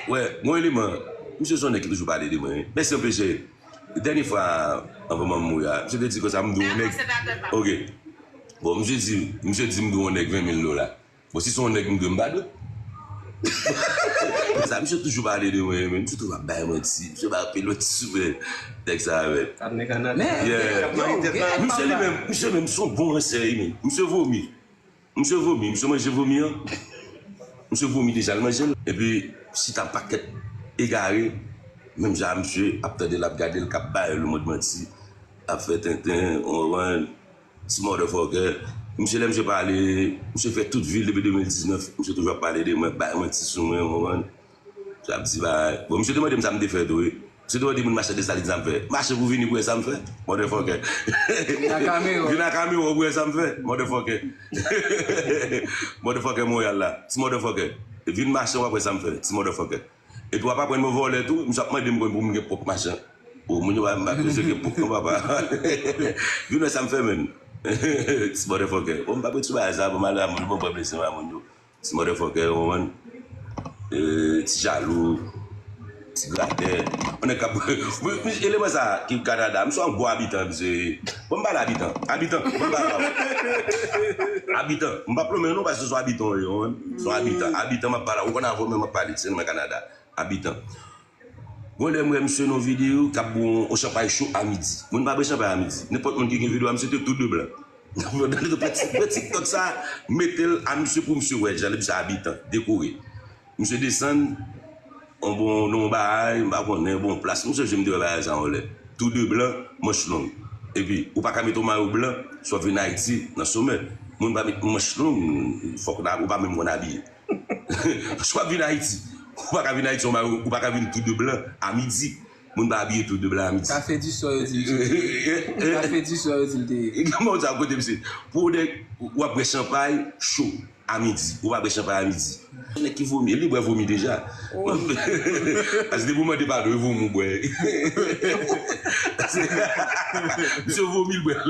Wè bon eleman misye son nèg ki toujou pale de mwen wi mèsi anpil cheri dènye fwa anvan manm mouri a misye te di konsa mdo on nèg ok bon misye di misye di mdo on nèg 20 mil dola bon si son nèg mdwe mpa dwe konsa misye toujou pale de mwen men misye toujou ap bay manti misye bay anpil manti sou mwen nèg sa men yeah misye li menm misye menm son bon ransè wi men misye vomi Misye vomi, misye manje vomi an, misye vomi deja li manjel. Epi chita pakèt egare menm jan a misye ap tandel ap gadel kap bay le mond manti ap fè tenten konprann ti mòdèfòkè misye lè misye pale misye fè tout vil depi 2019 misye toujou ap pale de mwen bay manti sou mwen konprann. Sa m ti bagay. Bon misye te mande m sa m te fè tou wi. Misye te mande moun mache Desalin sa m fè. Mache pou vini pou wè sa m fè? Motherfucker. Vin a Kamewo. Vin a Kamewo pou wè sa m fè? Motherfucker. Motherfucker Montreal la. Ti motherfucker. Vin mache w ap wè sa m fè. Ti motherfucker. Epi w ap aprann mwen vòlè tou. Misye ap mande m pou m gen pwòp machin. O moun yo pa m ap bezwen gen pwòp non papa. Vin wè sa m fè menn. Ti motherfucker. Bon m pa pou ti bagay sa bon malè a moun yo bon m pran blese m a moun yo. Ti motherfucker ou konprann ti jalou ti gratè on nèg kap msye eleman sa ki kanada msye on gwo abitan msye bon m pale abitan abitan bon m pale avèw abitan m pap lonmen w non paske son abitan ou ye ou konprann son abitan abitan map pale ou konn avèw menm map pale se nou menm kanada abitan. Bon lèm wè misye non video kap bwè yon chanpay cho a midi. Mwen pa bwè chanpay a midi. Nenpòt moun ki gen video a misye te tou de blan. Pran tiktok sa metel a misye pou misye wè jan misye abitan, dekore. Misye desann yon bon nan yon baay m pa konnen yon bon plas. M sonje m te wè bagay sa yon lè. Tou de blan, manch long. Epi ou paka met yon mayo blan si wap vin ayiti nan somè. Moun pa met manch long fòk ou pa menm konn abiye. Si w ap vin Ayiti, ou pa ka vin Ayiti yon bagay, ou pa ka vin tou de blan a midi. Moun pa abiye tou de blan a midi. Kafe di swa yo di misye te ye. Kafe di swa yo di l te ye. Kòman w sa kote misye? Pou w nèg, w ap bwè chanpay cho a midi. Ou pa bwè chanpay a midi. Nèg ki vomi, li bwè vomi deja. Ase depi w mande padon e vomi w bwè Misye vomi l bwè l.